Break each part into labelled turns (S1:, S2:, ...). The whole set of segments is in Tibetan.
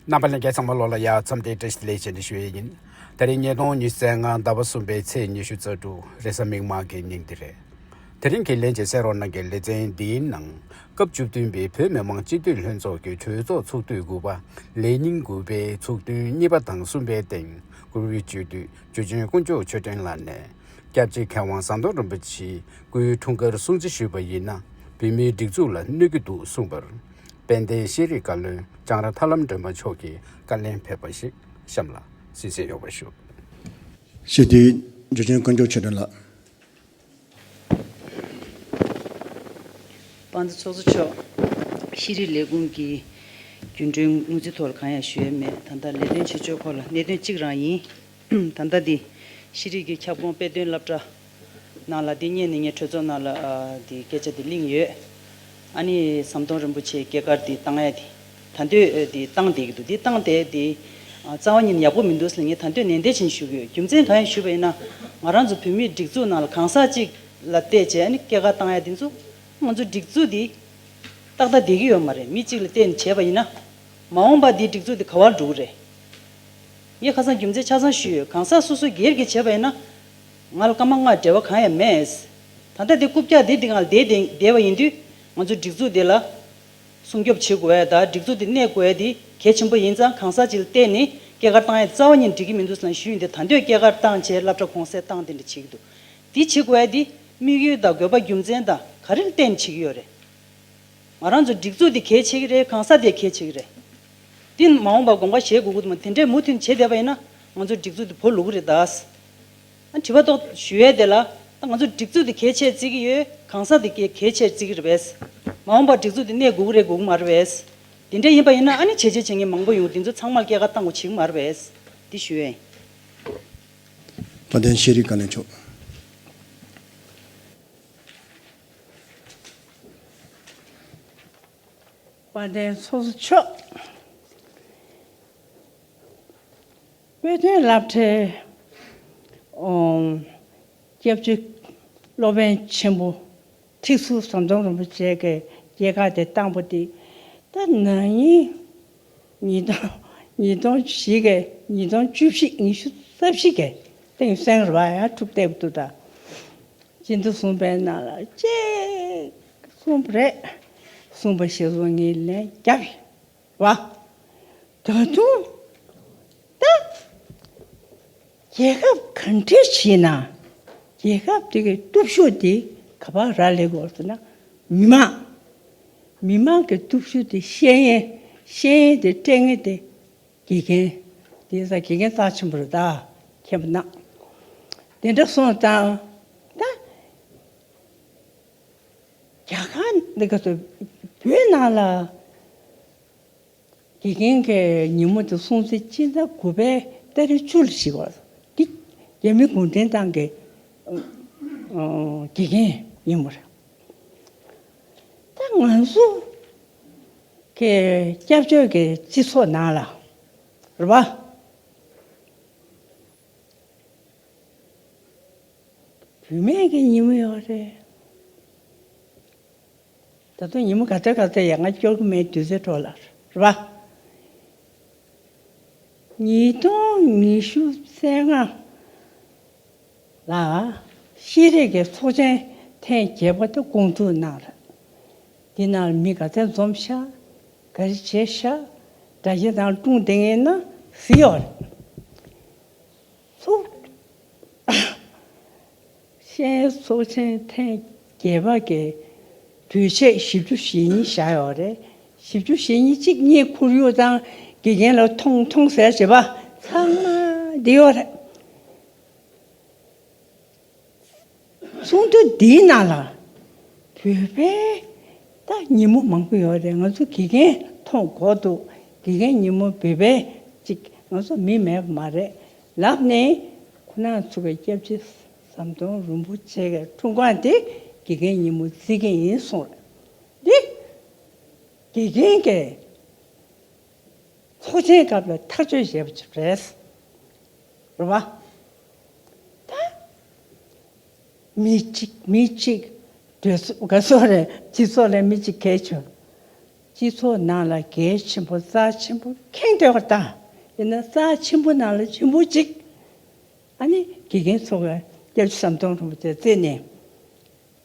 S1: རྣམ་པ་ལས་འགལ་ཚང་མ་ལོགས་ལ་ཡར་མཚམས་ཏེ་བཀྲ་ཤིས་ལེགས་བྱས་འདི་ཞུ་ཡས་ཡིན། ད་རིང་ཉིས་སྟོང་ཉི་ཟེར་ལྔ་ཟླ་བ་གསུམ་པའི་ཚེས་ཉི་ཤུ་རྩ་དྲུག་རེས་གཟའ་མིག་དམར་གྱི་ཉིན་འདི་རེད། དེ་རིང་གི་ལན་ཅིག་གསན་རོགས་གནང་གི་ལེ་ཚན་འདིའི་ནང་སྐབས་བཅུ་བདུན་པའི་བོད་མི་མང་སྤྱི་འཐུས་ལྷན་ཚོགས་ཀྱི་གྲོས་ཚོགས་ཚོགས་དུས་དགུ་པ་ལས་ཉིན་དགུ་པའི་ཚོགས་ཐུན་གཉིས་པ་དང་གསུམ་པའི་སྟེང་བཀུར་འོས་སྤྱི་འཐུས་ཇོ་ཆེན་དཀོན་མཆོག་མཆོད་སྤྲིན་ལགས་ནས་སྐྱབས་རྗེ་མཁས་དབང་ཟམ་གདོང་རིན་པོ་ཆེའི་སྐུའི་འཁྲུངས་སྐར་སྲུང་བརྩི་ཞུས་པ་ཡིན་ན་བོད་མིའི་སྒྲིག་འཛུགས་ལ་གནོད་ཀྱི་འདུག་གསུངས་པར། དཔལ་ལྡན་ཤེས་རིག་བཀའ་བློན་ལྕང་ར་ཐར་ལམ་སྒྲོལ་མ་མཆོག་གིས་བཀའ་ལན་ཕེབས་པ་ཞིག་གཤམ་ལ་གསན་གསན་ཡོད་པ་ཞུ། སྤྱི་
S2: འཐུས་འཇུ་ཆེན་དཀོན་མཆོག་ཆོས་སྒྲོན་ལགས། དཔའ་
S3: མཛོད་ཚོགས་གཙོ་མཆོག། ཤེས་རིག་ལས་ཁུངས་ཀྱི་རྒྱུན་གྲོན་དངུལ་རྩིས་ཐོག་ལ་གང་ཡང་ཞུས་ཡོད་མེད་ད་ལྟ་ལས་དོན་བྱེད་ཕྱོགས་སྐོར་ལ་གནད་དོན་གཅིག་རང་ཡིན། ད་ལྟ་འདི་ཤེས་རིག་གི་ཁྱབ་ཁོངས་དཔེ་སྟོན་བསླབ་གྲྭ་ནང་ལ་དེ་སྙེད་ནས་ངས་གྲོས་ཚོགས་ནང་ལ་དེ་སྐད་ཆ་དེ་གླེང་ཡོད། ཨ་ནི་ཟམ་གདོང་རིན་པོ་ཆེའི་སྐྱེས་སྐར་དེ་བཏང་ཡ་དེ་ད་འདོད་དེ་བཏང་བསྡད་ཀྱི་འདུག་དེ་བཏང་བསྡད་དེ། རྩ་བ་ཉིད་ཡག་པོ་མི་འདུག་ཟེར་ངས་ད་འདོད་ནན་ཏན་བྱེད་ཞུ་གི་ཡོད་རྒྱུ་མཚན་གང་ཡང་ཞུས་པ་ཡིན་ན། ང་རང་ཚོ་བོད་མིའི་སྒྲིག་འཛུགས་ནང་ལ་གང་ཟག་ཅིག་ལ་བལྟས་བྱས་ཨ་ནི་སྐྱེས་སྐར་བཏང་ཡ་དེ་ཚོ། ང་ཚོའི་སྒྲིག་འཛུགས་དེ་ཏག་ཏག་བསྡད་ཀྱི་ཡོད་མ་རེད་མི་གཅིག་ལ་བལྟས་ནས་བྱས་པ་ཡིན་ན། མ་འོངས་པར་དེའི་སྒྲིག་འཛུགས་དེ་ག་བར་འགྲོ་གི་རེད། ངས་ཁ་སང་རྒྱུ་མཚན་ཆ་ཚང་ཞུས་ཡོད་གང་ཟག་སོ་སོ་སྒེར་གྱིས་བྱས་པ་ཡིན་ན། ང་ལ་སྐར་མ་ལྔ་བྲལ་བ་གང་ཡང་མེད། ད་ལྟ་དེ་རྐུབ་བཀྱག་དེ་འདི་ངང་བསྡད་པ་ཡིན་དུས། ང་ཚོ་སྒྲིག་འཛུགས་དེ་ལ་སྲུང་སྐྱོབ་བྱེད་དགོས་ཡ་ད་སྒྲིག་འཛུགས་དེ་གནས་དགོས་ཡ་དེ་གལ་ཆེན་པོ་ཡིན་ཙང་གང་ཟག་ཅིག་ལ་བལྟས་ནས་སྐྱེས་སྐར་བཏང་ཡ་རྩ་བ་ཉིད་འགྲིག་གི་མི་འདུག་སང་ཞུས་ཡིན་དེ་ད་འདོད་སྐྱེས་སྐར་བཏང་བྱས་བསླབ་གྲྭ་གོང་གསལ་བཏང་དེ་འདྲ་བྱེད་ཀྱི་འདུག་དེ་བྱེད་དགོས་ཡ་དེ་དམིགས་ཡུལ་དང་དགོས་པ་རྒྱུ་མཚན་དང་ག་རེ་ལ་བརྟེན་ནས་བྱེད་ཀྱི་ཡོད་རེད། ང་རང་ཚོ་སྒྲིག་འཛུགས་དེ་གལ་ཆེ་གི་རེད་གང་ཟག་དེ་གལ་ཆེ་གི་རེད། དེ་མ་འོངས་པར་དགོངས་ཀ་བཞེས་དགོས་ཀྱི་འདུག་མ་དེ་འདྲའི་མུ་མཐུད་ནས་བྱེད་བསྡད་པ་ཡིན་ན་ང་ཚོའི་སྒྲིག་འཛུགས་དེ་བོར་ལུག་གི་རེད་དཱ། དྲི་བ་དོག་ཞུ་ཡས་དེ་ལ་ད་ང་ཚོ་སྒྲིག་འཛུགས་དེ་གལ་ཆེར་བརྩི་གི་ཡོད་གང་ཟག་དེ་གལ་ཆེར་བརྩི་གི་རེད་བས། མ་འོངས་པར་སྒྲིག་འཛུགས་དེ་གནས་དགོས་ཀི་རེད་དགོས་ཀི་མ་རེད་བས། དེ་འདྲས་ཡིན་པ་ཡིན་ན་ཨ་ནི་བྱས་རྗེས་བྱེད་མཁན་མང་པོ་ཡོང་འདི་ཚོ་ཚང་མར་སྐྱེད་ཀ་བཏང་དགོས་བྱེད་ཀི་མ་རེད་བས། འདི་ཞུ་ཡས། བ་
S2: དན་ཤེས་རིག་བཀའ་བློན་མཆོག།
S4: བ་དན་སོ་སོ་མཆོག། པོད་དོན་བསླབ་གྲྭའི་སྐྱབས་བཅོལ་སློབ་དཔོན་ཆེན་པོ་ཐིག་ཚུལ་ཟམ་གདོང་རིན་པོ་ཆེས་ཀྱི་རྒྱལ་ཁ་དེ་བཏང་པོ་ཏི་ཏཱ་ན་ཉིད་ཉིས་སྟོང་ཉིས་སྟོང་བཞི་ཀའི་ཉིས་སྟོང་བཅུ་བཞི་ཉི་ཤུ་རྩ་བཞི་ཀའི་སྟེང་གསན་ར་བ་ཡང་ཐུབ་བསྟད་དུ་ད་ཅི་འདི་གསུངས་པའི་ནང་ལ་ཅེས་གསུངས་པ་རེད་གསུངས་པ་ཞིག་རུང་ངས་ལན་རྒྱབ་བ། ད་དུང་ད་རྒྱལ་ཁབ་ག་འདྲའི་ཞེས་ན་རྒྱལ་ཁབ་དེ་གི་སྟོབས་ཤུགས་དེ་ག་པ་ར་ལེ་གོ་ཟེར་ན་མི་མང། མི་མང་གི་སྟོབས་ཤུགས་དེ་ཤེས་ཡིན་ཤེས་ཡིན་དེ་སྤྲད་ངེས་དེ་དགེ་རྒན་དེ་ས་དགེ་རྒན་རྩ་ཆེན་པོ་རེ་ད་མཁས་པ་ནག་དེ་འདྲ་སོང་ཙང་ད། རྒྱ་གར་འདི་ག་དུ་བོད་ནང་ལ་དགེ་རྒན་གྱི་ཉིན་མོ་དེ་སྲུང་བརྩི་སྤྱི་ཟླ་དགུ་པའི་ལྟ་རེ་བཅུ་ལ་ཞིག་བར་འདི་རྒྱ་མི་གུང་ཁྲན་ཏང་གི་དགེ་རྒན་ཉིན་མོ་རེད། ད་ང་ཚོ་གི་སྐྱབས་བཅོལ་གྱི་སྤྱི་ཚོགས་ནང་ལ་རེད་པ། བུད་མེད་ཀྱི་ཉིན་མོ་ཡོད་རེད། ད་དུང་ཉིན་མོ་ག་ཚོད་ག་ཚོད་ཡག་ང་སྐྱོར་གི་མེད་དུས་ཚོད་འཕྲོ་ལ་རེད་བ། ཉིས་སྟོང་ཉི་ཤུ་ཚེས་ལྔ་ལ་ཤེས་རིག་གི་ཚོགས་ཆེན་ཐེངས་བརྒྱད་པ་དེ་སྐོང་ཚུགས་གནང་རེད། འདི་ནང་ལ་མི་ག་ཚད་འཛོམས་ཤག་ག་རེ་བྱེད་ཤག་སྒྲ་གཞས་དང་སྒྲུང་དེ་ངེས་ན་བཟི་ཡོད་རེད། ཤེས་ཚོགས་ཆེན་ཐེངས་བརྒྱད་པ་གི་དུས་ཆད་བཞི་བཅུ་ཞེ་གཉིས་བཞག་ཡོད་པ་རེད། བཞི་བཅུ་ཞེ་གཉིས་གཅིག་གཉིས་ཁོར་ཡུག་དང་དགེ་རྒན་ལ་མཐོང་མཐོང་ཟེར་བྱེད་པ་ཚང་མ་བསྡད་ཡོད་རེད། ཚོགས་འདུ་འདིའི་ནང་ལ་བོད་པའི་སྟག་ཉིན་མོ་མང་པོ་ཡོད་རེད་ང་ཚོ་དགེ་རྒན་མཐོང་དགོས་འདུག་དགེ་རྒན་ཉིན་མོ་བོད་པའི་ཅིག་ང་ཚོ་མི་མེད་པ་མ་རེད་ལབ་ནས་ཁོ་ན་ཚུགས་པའི་སྐྱབས་རྗེ་ཟམ་གདོང་རིན་པོ་ཆེ་གི་འཁྲུངས་སྐར་འདི་དགེ་རྒན་ཉིན་མོ་བརྩི་གི་ཡིན་གསུངས་རེད་འདི་དགེ་རྒན་གི་ཚོགས་ཆེན་སྐབས་ལ་ཐག་གཅོད་བྱས་པ་རེད། མི་གཅིག་མི་གཅིག། དགའ་ཚོར་རེད། སྤྱི་ཚོགས་ལས་མི་གཅིག་གལ་ཆེ། སྤྱི་ཚོགས་ནང་ལ་གལ་ཆེན་པོ་རྩ་ཆེན་པོ་ཁེངས་དེ་བ་ལྟ། དེ་ནི་རྩ་ཆེན་པོ་ནང་ལ་ཆེན་པོ་གཅིག། ཨ་ནི་དགེ་རྒན་ཚོ་ག་སྐྱབས་བཅུ་ཟམ་གདོང་རིན་པོ་ཆེ་བརྩིས་ནས།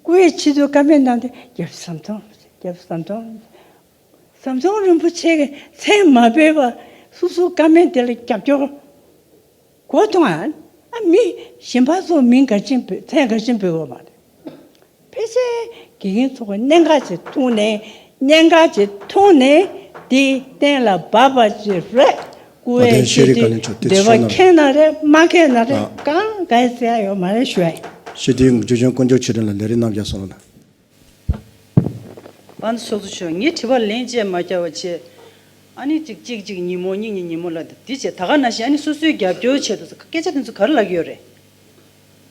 S4: སྐུ་ཡི་ཕྱི་དུས་བཀའ་མའི་ནང་དུ་རྒྱ་བཟའ་ཟམ་གདོང་རྒྱ་བཟའ་ཟམ་གདོང་ཟམ་གདོང་རིན་པོ་ཆེ་གི་མཚན་མ་སྤེལ་བ་སོ་སོའི་བཀའ་མའི་དེ་ལ་རྒྱབ་སྐྱོར་གོ་དང་ཨ་མི་གཞན་པ་ཚོ་མིང་འགའ་ཆེན་པོས་མཚན་འགའ་ཆེན་པོས་བོས་མ་ཐུབ། ཕལ་ཆེར་དགེ་རྒན་ཚོ་གི་གནད་འགག་ཅིག་མཐོང་ནས་གནད་འགག་ཅིག་མཐོང་ནས་དེའི་གཏན་ལ་འབབ་པ་ཅིག་རེད་སྐུ་བའི་ཆེད་
S2: དུ་འདོད་པ་ཁྱེད་ན་རེ་
S4: མ་ཁྱེད་ན་རེ་གང་ག་ཡི་ཟེར་ཡ་ཡོད་མ་རེད་ཞུ་བ་ཡིན། ཞི་བདེའི་འགུགས་བརྗོད་ཅན་
S2: བསྐོ་འཇོག་ཆེད་དོན་ལ་ལས་རིགས་རྣམ་བཞག་སོགས་ལ།
S3: པ་འདི་སོགས་སུ་ཆོས་ངའི་དྲི་བར་ལན་བཅས་མ་བསྐྱར་བ་བྱས། ཨ་ནི་ཅིག་ཅིག་ཅིག་ཉིན་མོ་གཉིས་གཉིས་ཉིན་མོ་ལ་དེ་བྱས་ད་ག་ན་བྱས་ཨ་ནི་སོ་སོའི་རྒྱབ་སྐྱོར་བྱས་འདུག་ཟེར་སྐད་ཆ་དེ་ཚོ་ག་རེ་ལབ་ཀྱི་ཡོད་རེད།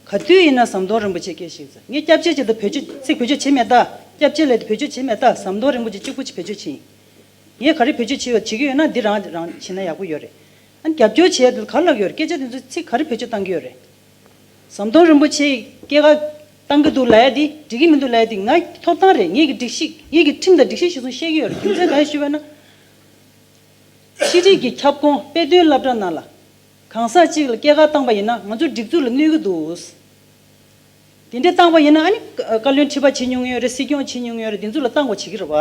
S3: ག་དུས་ཡིན་ན་ཟམ་གདོང་རིན་པོ་ཆེ་སྐད་ཤིག་ཟེར་ངས་སྐྱབས་རྗེ་བྱས་འདུག་བོད་ཆོས་ཚིག་བེད་སྤྱོད་བྱེད་མེད་ད་སྐྱབས་རྗེ་ལས་དུ་བེད་སྤྱོད་བྱེད་མེད་ད་ཟམ་གདོང་རིན་པོ་ཆེ་གཅིག་པུ་བེད་སྤྱོད་བྱེད་ཡིན། ངས་ག་རེ་བེད་སྤྱོད་བྱེད་ཡོད་དྲིས་ཀྱི་ཡོད་ན་འདི་རང་རང་བྱེད་ན་ཡག་པོ་ཡོད་རེད། ཨ་ནི་རྒྱབ་སྐྱོར་བྱས་དུས་ག་ལ་ལག་ཡོད་རེད་སྐད་ཆ་དེ་ཚོའི་ཚིག་ག་རེ་བེད་སྤྱོད་བཏང་གི་ཡོད་རེད། ཟམ་གདོང་རིན་པོ་ཆེ་ཡིས་སྐད་ཁ་བཏང་གི་འདུག་ལ་ཡ་འདི་འགྲིག་གི་མི་འདུག་ལ་ཡ་འདི་ང་ཐོབ་ཐང་རེད་ངེད་ཀྱི་སྒྲིག་གཞི་ངེད་ཀྱི་ཁྲིམས་དང་སྒྲིག་གཞི་ཞིག་སོང་བཤད་ཀྱི་ཡོད་རེད་རྒྱུ་མཚན་ག་རེ་ཞུས་པ་ན། ཕྱི་དྲིལ་གྱི་ཁྱབ་ཁོངས་དཔེ་སྟོན་བསླབ་གྲྭ་ནང་ལ། གང་ཟག་ཅིག་ལ་སྐད་ཁ་བཏང་པ་ཡིན་ན་ང་ཚོ་སྒྲིག་འཛུགས་ལ་གནོད་ཀྱི་འདུག། དེ་འདྲས་བཏང་བ་ཡིན་ན་ཨ་ནི་བཀའ་བློན་ཁྲི་པ་བྱེད་མྱོང་ཡོད་རེད་སྲིད་སྐྱོང་བྱེད་མྱོང་ཡོད་རེད་དེ་ཚོ་ལ་བཏང་བ་བྱེད་ཀྱི་རེད་བ།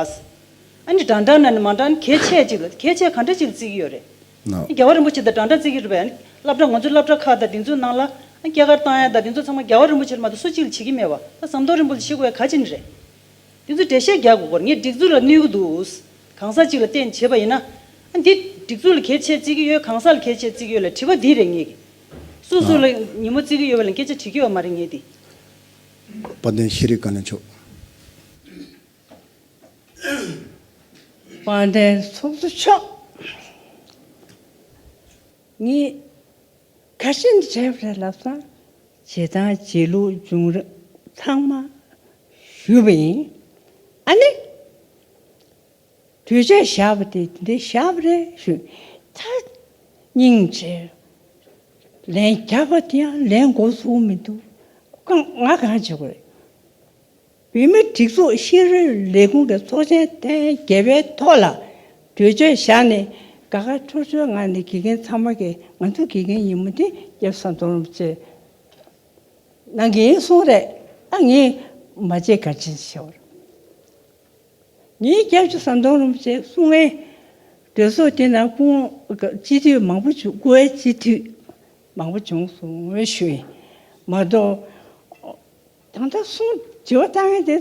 S3: ཨ་ནི་དྲང་དྲང་ན་ནི་མ་དྲང་གལ་ཆེ་ཅིག་ལ་གལ་ཆེ་ག་འདྲ་ཅིག་ལ་བརྩི་གི་ཡོད་རེད། ཨ་ནི་རྒྱལ་བ་རིན་པོ་ཆེ་དང་དྲང་དྲང་བརྩི་གི་རེད་བས་ཨ་ནི་བསླབ་གྲྭ་ང་ཚོའི་བསླབ་གྲྭ་ཁག་དང་དེ་ཚོའི་ནང་ལ་ཨ་ནི་སྐྱེས་སྐར་བཏང་ཡ་དང་དེ་ཚོ་ཚང་མ་རྒྱལ་བ་རིན་པོ་ཆེ་ལ་མ་གཏོགས་སུ་གཅིག་ལ་བྱེད་ཀྱི་མེད་བ་ད་ཟམ་གདོང་རིན་པོ་ལ་བྱེད་དགོས་ཡ་ག་ཅི་ནི་རེད། དེ་ཚོས་འགྲེལ་བཤད་རྒྱག་དགོས་སྐོར་ངས་སྒྲིག་འཛུགས་ལ་གནོད་ཀྱི་འདུག་གང་ཟག་ཅིག་ལ་བརྟེན་བྱེད་པ་ཡིན་ན་ཨ་ནི་དེ་སྒྲིག་འཛུགས་ལ་གལ་ཆེ་བརྩི་གི་ཡོད་གང་ཟག་ལ་གལ་ཆེ་བརྩི་གི་ཡོད་ལ་དྲི་བ་འདི་རེད་ངེས་ཀྱི། སུ་སུ་ལ་ཉིན་མོ་བརྩི་གི་ཡོད་པ་ལ་སྐད་ཆ་དྲི་གི་ཡོད་མ་རེད་ངེས་ཏེ། དཔལ་
S2: ལྡན་ཤེས་རིག་བཀའ་བློན་མཆོག། དཔལ་
S4: ལྡན་ཚོགས་གཙོ་མཆོག། ངས་ཁ་ཞེ་འདི་དྲན་པ་རེད་ལབ་སོང། བྱེད་སྟངས་བྱེད་ལུགས་བྱུང་རིམ་ཚང་མ་ཞུས་པ་ཡིན། ཨ་ནི། གདུལ་བྱ་བཞག་པ་དེ་འདི་བཞག་པ་རེད་ཞུས་ད་སྙིང་རྗེ། ལན་རྒྱག་པ་དེ་ཡང་ལན་མགོ་བཙུགས་མི་འདུག་གང་ང་གང་བྱེད་དགོས་རེད། བོད་མིའི་སྒྲིག་འཛུགས་ཤེས་རིག་ལས་ཁུངས་ཀྱི་ཚོགས་ཆེན་ཐེངས་བརྒྱད་པའི་ཐོག་ལ་གྲོས་ཆོད་བཞག་ནས་དགའ་དགའ་ཆོས་ཆོས་ངང་ནས་དགེ་རྒན་ཚང་མ་གིས་ང་ཚོ་དགེ་རྒན་ཡིན་མོད་དེ་ཡབ་ས་མཐོ་རུམ་བཅས་གནང་གི་ཡིན་གསུངས་རེད་ད་ངས་མ་བརྗེད་ག་ཅི་ཞུ། ཉིན་བརྒྱ་བཅུ་ས་མདོང་རིན་པོ་ཆེ་གསུང་ངན། གྲོས་ཚོགས་དེ་ནང་དཔུང་སྤྱི་འཐུས་མང་པོ་བྱུང་དགུ་བའི་སྤྱི་འཐུས་མང་པོ་བྱུང་གསུང་ངོ་ཤུས་མ་གཏོགས། ད་ལྟ་གསུང་དྲི་བ་གཏང་ཡས་དེ་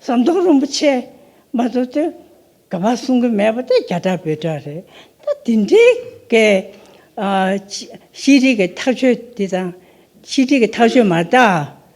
S4: ས་མདོང་རིན་པོ་ཆེ་མ་གཏོགས་དེ་ག་པར་གསུང་གི་མེད་པ་དེ་རྒྱ་གྲགས་བོད་གྲགས་རེད་ད་དེ་འདྲའི་གི་ཤེས་རིག་གི་ཐག་ཆོད་དེ་དང་ཤེས་རིག་གི་ཐག་ཆོད་མ་གཏགས།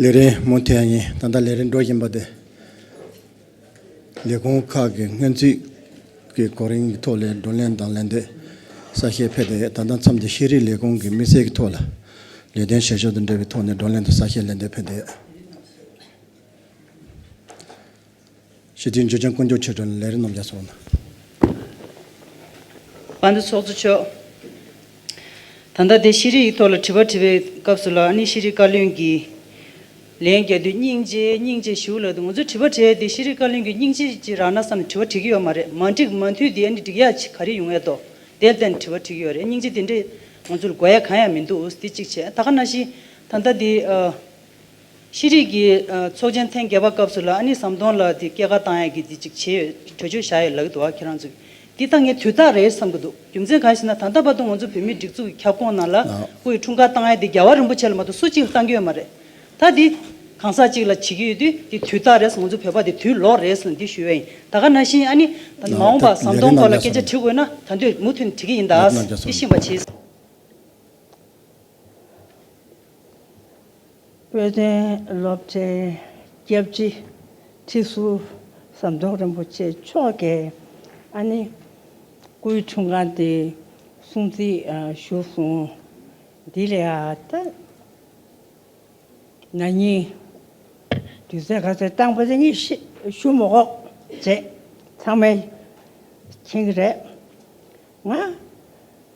S2: ལས་རིམ་མུ་མཐའི་ཉིན་ད་ལྟ་ལས་རིམ་འགྲོ་བཞིན་པ་དེ་ལས་ཁུངས་ཁག་གི་སྔོན་རྩིས་ཀྱི་གོ་རིམ་གྱི་ཐོག་ལས་བགྲོ་གླེང་དང་ལས་འདེད་གསལ་བཤད་ཕེབས་ཏེ་ད་ལྟ་མཚམས་ཀྱི་ཤེས་རིག་ལས་ཁུངས་ཀྱི་དམིགས་བསལ་གྱི་ཐོག་ལ་ལས་དོན་བྱེད་ཕྱོགས་དང་འབྲེལ་བའི་ཐོག་ནས་བགྲོ་གླེང་དང་གསལ་བཤད་ལན་འདེབས་ཕེབས་ཏེ། ཞི་བདེའི་འཇོན་ཆང་བཀོལ་འཇོག་ཆེད་བགྲོ་གླེང་ལས་རིགས་རྣམ་གཞག་སོགས་གནང།
S3: བ་འདུ་ཚོགས་གཙོ་མཆོག་ད་ལྟ་བདེ་ཤེས་རིག་ཡིག་ཐོག་ལ་དྲི་བ་དྲིས་པའི་སྐབས་སུ་ལགས་ནི་ཤེས་རིག་བཀའ་བློན་གྱིས་ལན་རྒྱག་དུས་སྙིང་རྗེ་སྙིང་རྗེ་ཞུ་ལགས་འདུག་ང་ཚོས་དྲི་བ་དྲིས་དེ་ཤེས་རིག་བཀའ་བློན་གྱིས་སྙིང་རྗེ་ཅི་རག་ན་བསམ་ནས་དྲི་བ་དྲིས་ཀྱི་ཡོད་མ་རེད་མ་འགྲིག་མ་འཐུས་དེ་ནི་འགྲིག་ཡག་ག་རེ་ཡོང་ཨེ་དོ་དེར་བརྟེན་དྲི་བ་དྲིས་ཀྱི་ཡོད་རེད་སྙིང་རྗེ་དེ་འདྲས་ང་ཚོར་དགོས་ཡ་གང་ཡང་མི་འདུག་དེ་གཅིག་བྱས་ད་ག་ན་ཤི་ད་ལྟ་དེ། ཤེས་རིག་གི་ཚོགས་ཆེན་ཐེངས་བརྒྱད་པ་སྐབས་སུ་ལ་ཨ་ནི་ཟམ་གདོང་ལ་དེ་སྐད་ཁ་བཏང་ཡ་གི་དེ་ཅིག་བྱེད་ཡོད་གྲོས་ཆོད་བཞག་ཡོད་ལག་གི་འདུག་ཨ་ཁྱེད་རང་ཚོ་གིས་དེ་ལྟ་ངས་དུས་རྟགས་རེད་བསམ་གི་འདུག་རྒྱུ་མཚན་གང་ཞེ་ན་ད་ལྟ་བར་དུ་ང་ཚོ་བོད་མིའི་སྒྲིག་འཛུགས་ཀྱི་ཁྱབ་ཁོངས་ནང་ལ་སྐུ་ཡི་འཁྲུངས་སྐར་བཏང་ཡ་དེ་རྒྱལ་བ་རིན་པོ་ཆེ་ལ་མ་གཏོགས་སུ་གཅིག་ལ་བཏང་གི་ཡོད་མ་རེད། ད་དེ་གང་ཟག་གཅིག་ལ་བྱེད་ཀྱི་ཡོད་དུས་དེ་དུས་རྟགས་རེད་ང་ཚོ་བོད་པ་དེ་དུས་ལོག་རེད་ཟེར་ནས་འདི་ཞུ་ཡ་ཡིན་ད་ག་ན་བཞིན་ཨ་ནི་ད་མ་འོངས་པ་ཟམ་གདོང་སྐོར་ལ་སྐད་ཆ་དྲི་དགོས་ན་ད་འདོད་མུ་མཐུད་ནས་དྲི་གི་ཡིན་ད་ཨ་ཟེར་དེ་ཤེས་པ་བྱེད།
S4: དཔལ་ལྡན་སློབ་གྲྭའི་སྐྱབས་རྗེ་ཁྲི་ཟུར་ཟམ་གདོང་རིན་པོ་ཆེ་མཆོག་གིས་ཨ་ནེ་སྐུའི་འཁྲུངས་སྐར་འདི་སྲུང་བརྩི་ཞུ་སོང། འདི་ལས་ད་ང་གཉིས་དུས་ཚོད་ག་ཚོད་བཏང་པ་དེ་གཉིས་ཞུ་མོ་ཁོག་བྱེད་ཚང་མས་མཁྱེན་གྱི་རེད། ང།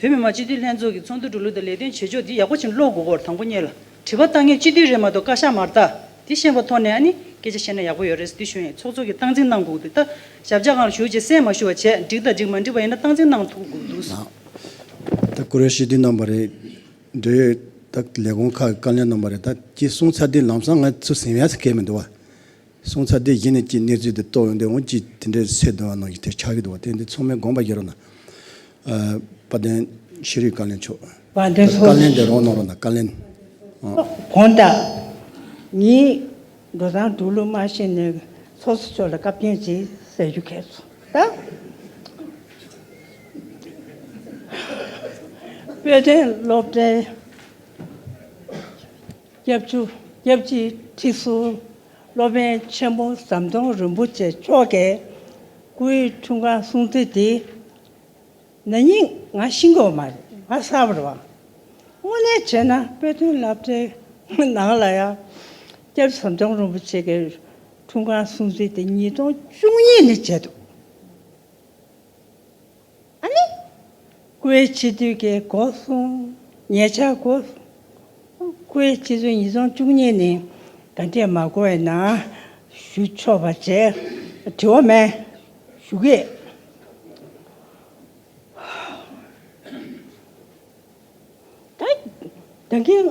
S3: བོད་མི་མང་སྤྱི་འཐུས་ལྷན་ཚོགས་ཀྱི་ཚོགས་འདུ་གྲོལ་ལུགས་དང་ལས་དོན་བྱེད་ཕྱོགས་འདི་ཡག་པོ་ཕྱིན་ཀློག་དགོས་སྐོར་དང་པོ་གཉེར་ལ། དྲི་བ་བཏང་ངེས་སྤྱི་འཐུས་རེད་མ་གཏོགས་བཀའ་ཤག་མར་ལྟ། དེ་ཤེས་པ་ཐོག་ནས་ཨ་ནི་སྐད་ཆ་བཤད་ན་ཡག་པོ་ཡོད་རེད་ཟེར་དུས་ཞུ་ཡིན་ཚོགས་གཙོ་གི་སྟངས་འཛིན་གནང་དགོས་འདུག་ད། ཞབས་རྗ་གང་ལ་ཞུ་རྗེས་གསན་མ་ཞུ་བ་བྱས་འགྲིག་ད་འགྲིག་མ་འགྲིག་པ་ཡིན་ན་སྟངས་འཛིན་གནང་ཐུག་དགོས་འདུག།
S2: ད་བཀུར་འོས་ཞུ་དུས་གནང་བ་རེད། འབྲེལ་ཡོད་ད་ལས་ཁུངས་ཁག་གི་བཀའ་བློན་གནང་བ་རེད་ད་ཅེས་གསུངས་ཚར་དུས་ལམ་སང་ང་ཚོ་ཟིང་བས་ཟིང་ཁེ་མི་འདུག་བ། གསུང་ཚར་དེ་བཞིན་གྱི་གནས་ཚུལ་དེ་རྟོགས་ཡོང་དུས་འོང་གཅིག་དེ་འདྲའི་ཚེ་སྡོད་བ་ནང་བཞིན་དེར་ཆགས་ཀྱི་འདུག་བ་དེ་འདི་ཚང་མའི་དགོངས་པ་ཡིན་རུང་ན། དཔའ་བརྟན་ཤེས་རིག་བཀའ་ལན་མཆོག་ད་དུ་བཀའ་ལན་
S4: དེ་རོགས་གནང་རོགས་
S2: གནང་བཀའ་ལན། གོང་
S4: ལྟར། ངའི་འགྲོ་སྟངས་འགྲོ་ལུགས་མ་ཤེས་ནས་ཚོགས་གཙོ་མཆོག་ལ་བཀའ་བཀྱོན་ཅིག་ཟེར་རྒྱུ་གལ་སོང་ད། དཔལ་ལྡན་སློབ་གྲྭའི། སྐྱབས་བཅུ་སྐྱབས་གཅིག་ཁྲི་ཟུར་སློབ་དཔོན་ཆེན་པོ་ཟམ་གདོང་རིན་པོ་ཆེ་མཆོག་གི་སྐུའི་འཁྲུངས་སྐར་སྲུང་བརྩི་འདི་ན་ཉིན་ང་ཤི་འགོ་མ་རེད་ང་གསར་པར་བ་དངོས་གནས་བྱས་ན་དཔེ་སྟོན་བསླབ་གྲྭའི་ནང་ལ་ཡང་སྐྱབས་བཅུ་ཟམ་གདོང་རིན་པོ་ཆེ་གི་འཁྲུངས་སྐར་སྲུང་བརྩི་འདི་ཉིས་སྟོང་བཅུ་གཉིས་ནས་བྱས་འདུག། ཨ་ནི། ཀུའེ་སྤྱི་འཐུས་ཀྱིས་སྒོ་སྲུང་ཉེ་ཆར་སྒོ་ཀུའེ་སྤྱི་འཐུས་ཉིས་སྟོང་བཅུ་གཉིས་ནི་ག་འདྲས་མ་གོ་བའི་ནང་ཞུགས་ཆོག་པ་བཅས་དྲི་བ་མེད་ཞུ་གི་ཡོད། ད་ལྟའི།